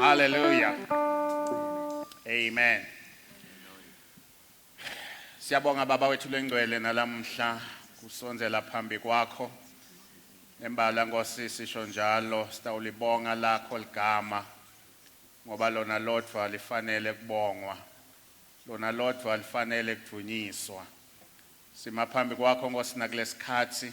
Hallelujah. Amen. Siyabonga baba wethu lengcwele nalamhla kusonzela phambi kwakho. Embala Nkosi sisho njalo sitawulibonga lakho ligama ngoba lona lodwa lifanele kubongwa. Lona lodwa lifanele kudunyiswa. Sima phambi kwakho Nkosi nakulesikhathi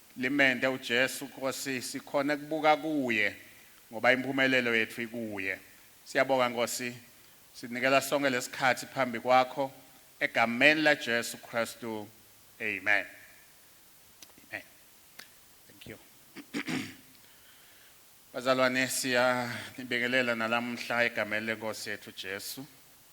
Limende uJesu Nkosi sikhone kubuka kuye ngoba impumelelo yethu ikuye. Siyabonga Nkosi sinikela sonke lesikhathi phambi kwakho egameni laJesu Kristu Amen. Amen. Thank you. Bazalwane siya nibingelela nalamhla egameni leNkosi yethu Jesu.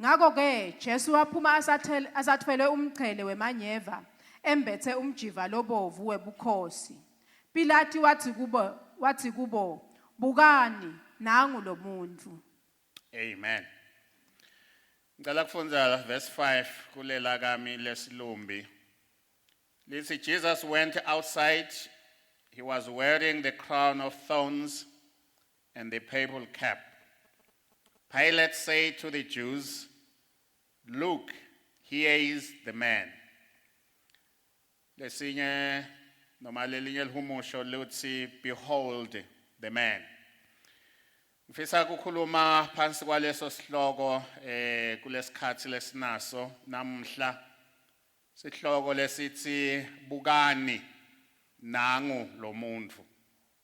Ngakho-ke Jesu waphuma asathel- asathwelwe umqhele wemanyeva, embethe umjiva lobovu webukhosi. Pilati wathi kubo, wathi kubo, Bukani, nangu lo muntu. Amen. Ngicela kufundza verse 5 kulela kami lesilumbi. Lithi Jesus went outside. He was wearing the crown of thorns and the purple cap. Pilate said to the Jews, Look, here is the man. Lesinye noma lelinye lihumusho luthi behold the man. Ngifisa kukhuluma phansi kwaleso sihloko eh kulesikhathi lesinaso namhla. Sihloko lesithi bukani nangu lomuntu.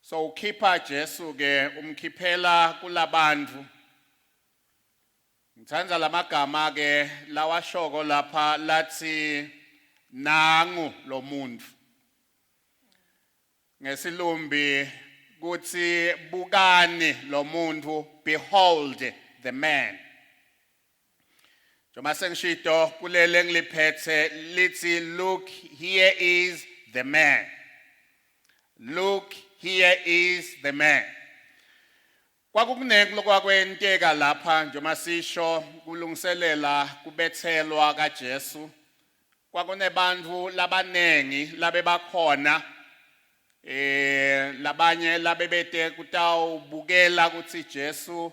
So ukhipha Jesu ke umkhiphela kulabantu. Ngithanda lamagama ke lawashoko lapha lathi nangu lomuntu. Ngesilumbi kuthi bukani lomuntu behold the man. Njengoba sengisho itoho kuleli engiliphethe lithi look here is the man. Look here is the man. Kwakukunenkulo kwakwenteka lapha njengoba sisho kulungiselela kubethelwa kaJesu. Kwakunebantu labaningi labe bakhona eh labanye labebete kutawubukela ukuthi Jesu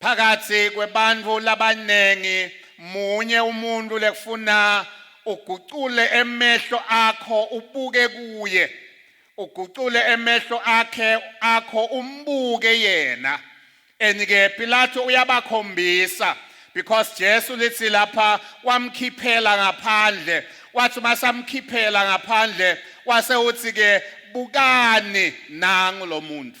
Phakatsi kwebantfu labanengi munye umuntu lekufuna ugucule emehlo akho ubuke kuye ugucule emehlo akhe akho umbuke yena and ke Pilato uyabakhombisa because Jesu lithi lapha wamkhiphela ngaphandle wathi uma samkhiphela ngaphandle wase uthi ke bukani nangu lo muntu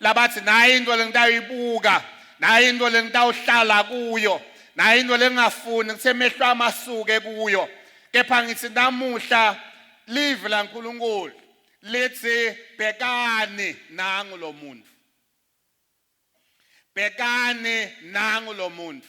labathi nayi into lengitayibuka nayi into lengitawuhlala kuyo nayi into lengingafuni kuthe mehlo amasuke kuyo kepha ngithi namuhla live la nkulunkulu lithi bhekani nangu lo muntu bhekani nangu lo muntu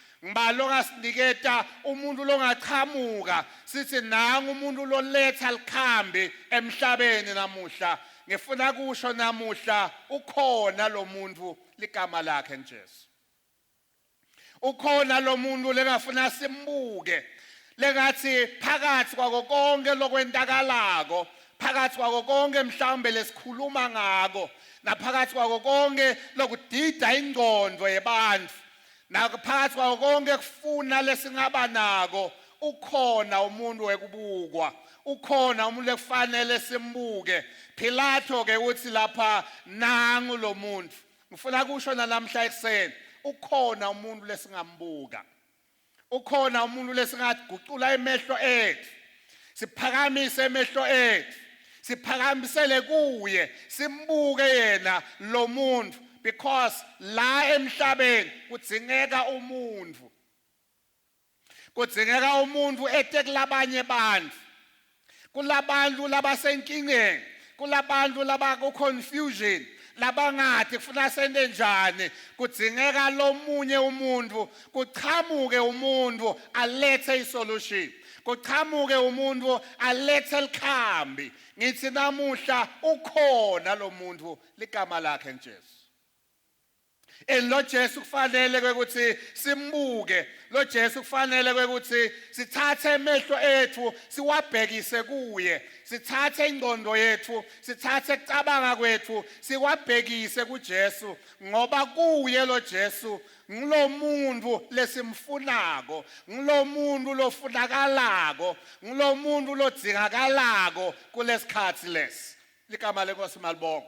ngibalo ngasiniketa umuntu longaqhamuka sithi nangu umuntu loletha likhambi emhlabeni namuhla ngifuna kusho namuhla ukhona lo muntu ligama lakhe njesu ukhona lo muntu lengafuna simbuke lengathi phakathi kwako konke lokwentakalako phakathi kwako konke mhlawumbe lesikhuluma ngako naphakathi kwako konke lokudida ingqondo yebantu Nakuphakathi kwawo konke kufuna lesingaba nako ukhona umuntu wekubukwa ukhona umuntu ekufanele simbuke Pilato ke uthi lapha nangu lo muntu ngifuna kusho nalamhla ekuseni ukhona umuntu lesingambuka ukhona umuntu lesingathi gucula emehlo ethu siphakamise emehlo ethu siphakamisele kuye simbuke yena lo muntu because la emhlabeni kudzingeka umuntu kudzingeka umuntu ete kulabanye bantu kulabantu labasenkingeni kulabantu labaku confusion labangathi kufuna sente njani kudzingeka lomunye umuntu kuchamuke umuntu alethe isolution kuchamuke umuntu alethe likhambi ngithi namuhla ukhona lomuntu ligama lakhe njesu And lo Jesu kufanele ukuthi simbuke lo Jesu kufanele ukuthi sithathe emehlo ethu siwabhekise kuye sithathe ingqondo yethu sithathe kucabanga kwethu siwabhekise kuJesu ngoba kuye lo Jesu ngilomuntu lesimfunako ngilomuntu lofunakalako ngilomuntu lodzingakalako kulesikhathi lesi ligama lenkosi malibonga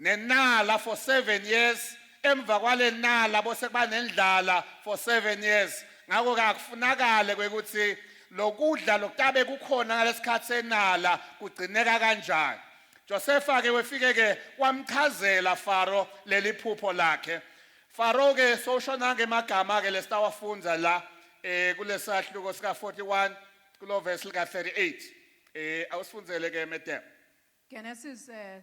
nenala for 7 years emva kwale nala bose kuba nendlala for 7 years ngakho ke akufunakale kwekuthi lokudla lokutabe kukhona ngalesikhathi senala kugcineka kanjani Josefa ke wefike ke wamchazela Faro leli phupho lakhe Faro ke soshona ngemagama ke lesitawafundza la eh kulesahluko sika 41 kulo verse lika 38 eh awusifundzele ke medem Genesis uh,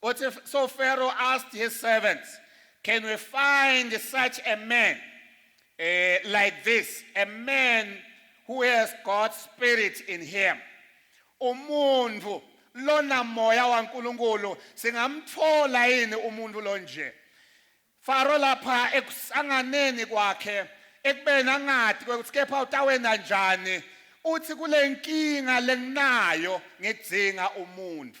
But if, so Pharaoh asked his servants, Can we find such a man uh, like this? A man who has God's spirit in him. Umuntu lona moya waNkulunkulu singamthola yini umuntu lonje? Faro lapha ekusanganeni kwakhe ekubeni angathi ukuthi kepha utawena njani uthi kule nkinga lenginayo ngidzinga umuntu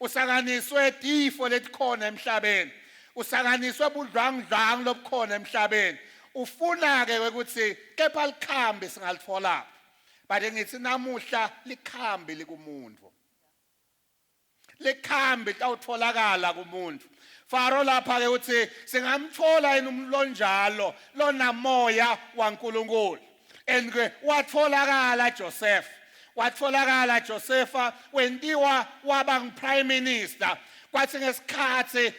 Usakaniswe tifo letikhona emhlabeni. Usakaniswe budlwangudlwangu lobukhona emhlabeni. Ufuna ke ukuthi kepha likhambi singalithola. But ngithi namuhla likhambi likumuntu. Likhambi tawutholakala kumuntu. Faro lapha ke uthi singamthola yini umlonjalo lonamoya waNkulunkulu. and ke watholakala Joseph watholakala Josefa wentiwa waba ngiprime minister kwathi ngesikhathi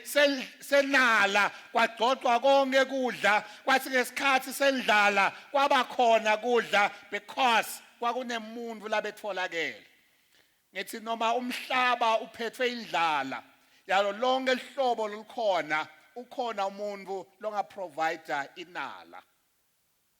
senala kwagcogcwa konke kudla kwathi ngesikhathi sendlala kwaba khona kudla because kwakunemuntu labetholakele ngithi noma umhlaba uphethwe indlala yalo lonke lihlobo lolukhona ukhona umuntu longaprovider inala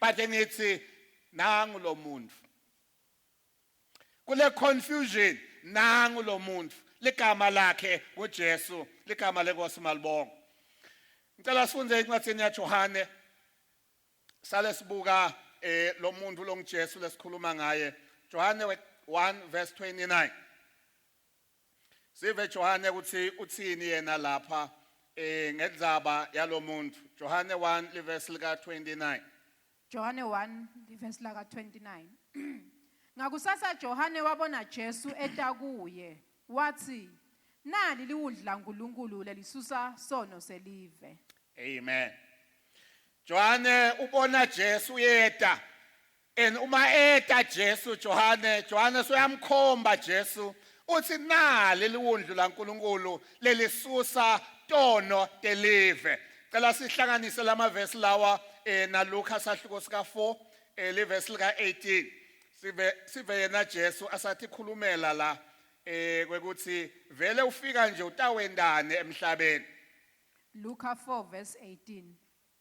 but ngithi nangu lo muntu kule confusion nangu lo muntu ligama lakhe nguJesu ligama lenkosi malibonga ngicela sifunde incwadi yaJohane sale sibuka eh lo muntu longiJesu lesikhuluma ngaye Johane 1 verse 29 Sive Johane ukuthi uthini yena lapha eh ngenzaba yalomuntu. Johane 1 livesi lika 29. Johane 1 livesi laka 29 Ngakusasa Johane wabona Jesu eta kuye wathi nali liwudla uNkulunkulu lelisusa sono selive Amen. Johane ubona Jesu yeta And uma eta Jesu Johane, Johane soyamkhomba Jesu uthi nali liwundlu laNkulunkulu lelisusa tono telive. Cela sihlanganise lamavesi lawa eh na Luka sahluko sika 4 eh livesi lika 18. Sive sive yena Jesu asathi khulumela la eh kwekuthi vele ufika nje utawendane emhlabeni. Luka 4 verse 18.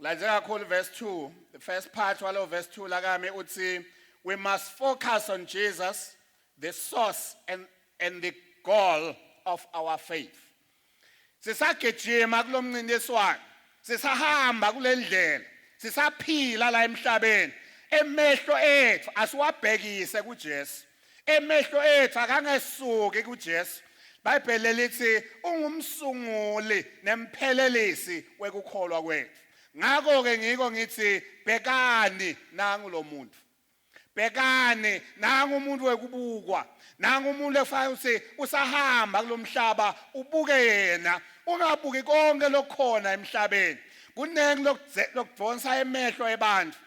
Ngilandze kakhulu verse 2. The first part walo verse 2 lakami uthi we must focus on Jesus, the source and and the goal of our faith. Sisagijima kulomncintiswano, sisahamba kulendlela, sisaphila la emhlabeni. Emehlo ethu asiwabhekise kuJesu. Emehlo ethu akangesuki kuJesu. Bhayibheli lithi ungumsunguli nemphelelisi wekukholwa kwethu. Ngakho ke ngiko ngithi bhekani nangu lo muntu. Bhekani nangu umuntu wekubukwa. Nangu umuntu efanele ukuthi usahamba kulomhlaba ubuke yena ungabuki konke lokhona emhlabeni. Kuningi lokudonsa emehlo ebandla.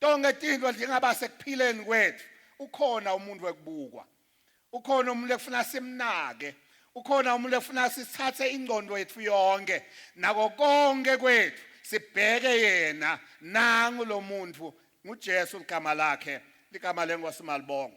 Tonke tintfo tingaba sekuphileni kwetfu. Ukhona umuntu wekubukwa. Ukhona umuntu ekufuna simnake. Ukhona umuntu ekufuna sithathe ingcondo yetfu yonke nako konke kwethu sibheke yena nangu lomuntu nguJesu ligama lakhe ligama lenkosi malibonga.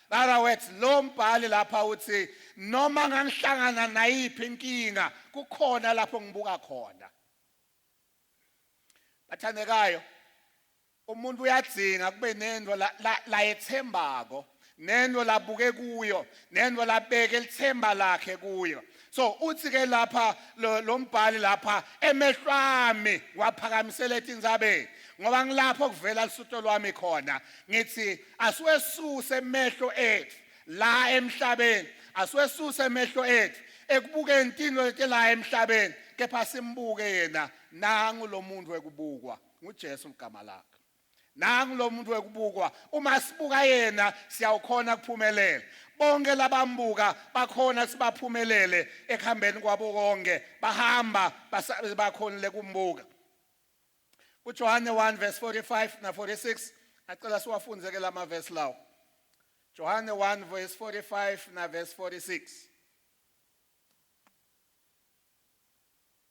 Other words lo mbhali lapha uthi noma ngangihlangana nayiphi inkinga kukhona lapho ngibuka khona. Bathandekayo umuntu uyadzinga kube nento la, la, la ethembako nento labuke kuyo nento labeke lithemba lakhe kuyo so uthi ke lapha lo mbhali lapha emehlwami waphakamisela ethi inzabeni ngoba ngilapho kuvela lusutho lwami khona ngithi asiwesuse emehlo ethu la emhlabeni asiwesuse emehlo ethu ekubukeni intino lete la emhlabeni kepha simbuke yena nangu lo muntu ekubukwa nguJesu ligama lakhe Nangu lo muntu wekubukwa, uma sibuka yena siyawukhona kuphumelela. Bonke labambuka bakhona ukuthi baphumelele ekuhambeni kwabo konke, bahamba basale bakhonile kumbuka. KuJohane 1 verse 45 na 46 acela siwafunde ke lama verse lawo. Johane 1 verse 45 na verse 46.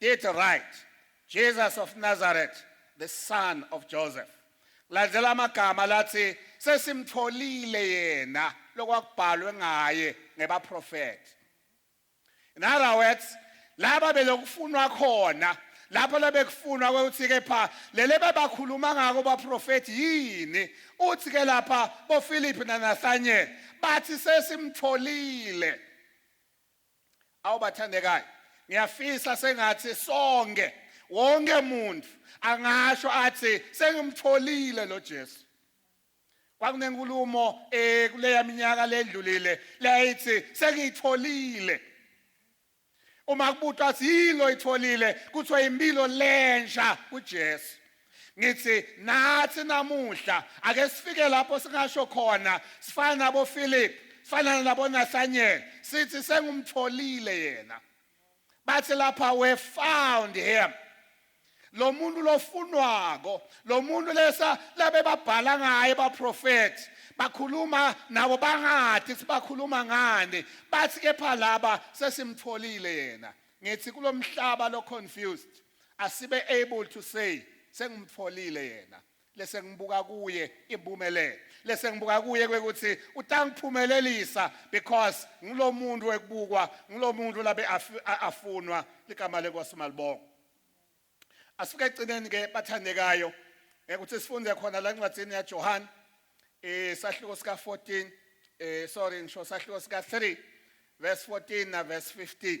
Did right. Jesus of Nazareth, the son of Joseph. Landela amagama lathi sesimtholile yena lokwakubhalwe ngaye ngebaprofeti. In other words, laba belokufunwa khona lapho labekufunwa ukuthi ke pha lele bebakhuluma ngako baprofeti yini uthi ke lapha boPhilip naNathaniel bathi sesimtholile Awu bathandekayo, ngiyafisa sengathi sonke wonke muntu angasho athi sengimtholile lo Jesu. Kwakunenkulumo eh kuleya minyaka ledlulile layithi sengiyitholile. Uma kubutwa athi yilo itholile kuthiwa impilo lensha kuJesu. ngithi nathi namuhla ake sifike lapho singasho khona sifana nabo Philip sifana nabo Nathaniel sithi sengumtholile yena bathi lapha we found him lo muntu lofunwako lo muntu lesa labe babhala ngaye baprofethi bakhuluma nabo bangathi sibakhuluma ngani bathi kepha laba sesimtholile yena ngithi kulomhlaba lo confused asibe able to say sengimtfolile yena lese ngibuka kuye impumelelo lese ngibuka kuye kwekuthi utangiphumelelisa because ngilomuntu ekubukwa ngilomuntu labe afunwa ligama lenkosi malibonga asifike egcineni ke bathandekayo ukuthi sifunde khona la ncwadini yaJohane eh sahluko sika 14 eh sorry ngisho sahluko sika 3 verse 14 na verse 15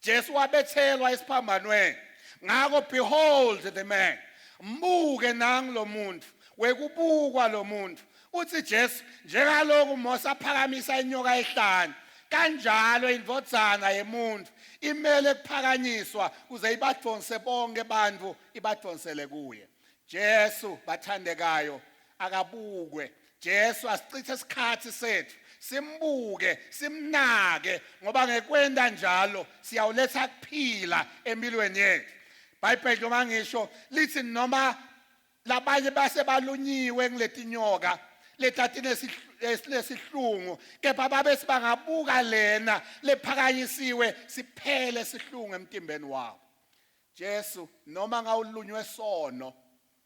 Jesu wabethelwa esiphambanweni. Ngakho behold the man. Mbuke nangu lo muntu. Wekubukwa lo muntu. Uthi Jesu njengalokhu Mose aphakamisa inyoka ehlane kanjalo indvodzana yemuntu imele kuphakanyiswa kuze ibadvonse bonke bantfu ibadvonsele kuye. Jesu bathandekayo akabukwe Jesu asichithe isikhathi sethu simbuke simnake ngoba ngekwenda njalo siyawuletha kuphila empilweni yethu iBhayibheli noma ngisho lithi noma labanye base balunyiwe ngiletinyoka letatine silesihlungu kepha babe sibangabuka lena lephakanyisiwe siphele sihlungu emtimbeni wabo Jesu noma ngawulunywe sono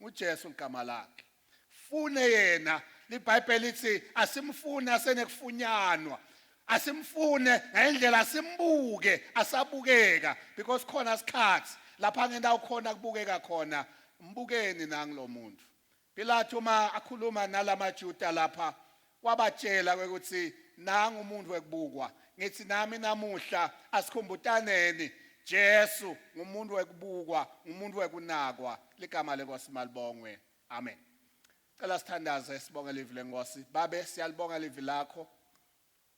uJesu igama lakhe fune yena libhayibheli lithi asimfune asenekufunyanwa asimfune ngendlela asimbuke asabukeka because khona isikhathi lapha ngendawo khona kubukeka khona mbukeni nangilomuntu Pilate uma akhuluma nalamaJuda lapha Wabatshela ke ukuthi nangu umuntu wekubukwa. Ngithi nami namuhla asikhumbutaneni Jesu ngumuntu wekubukwa, ngumuntu wekunakwa. Ligama lenkosi malibongwe. Amen. Cela sithandaze sibonge livi lenkosi. Babe siyalibonga livi lakho.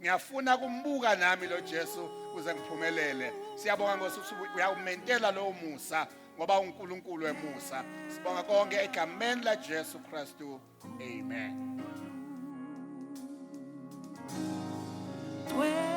ngiyafuna kumbuka nami lo Jesu kuze ngiphumelele siyabonga ngosuthi uyawumentela lowo musa ngoba uNkulunkulu emusa sibonga konke egameni la Jesu Kristu amen Well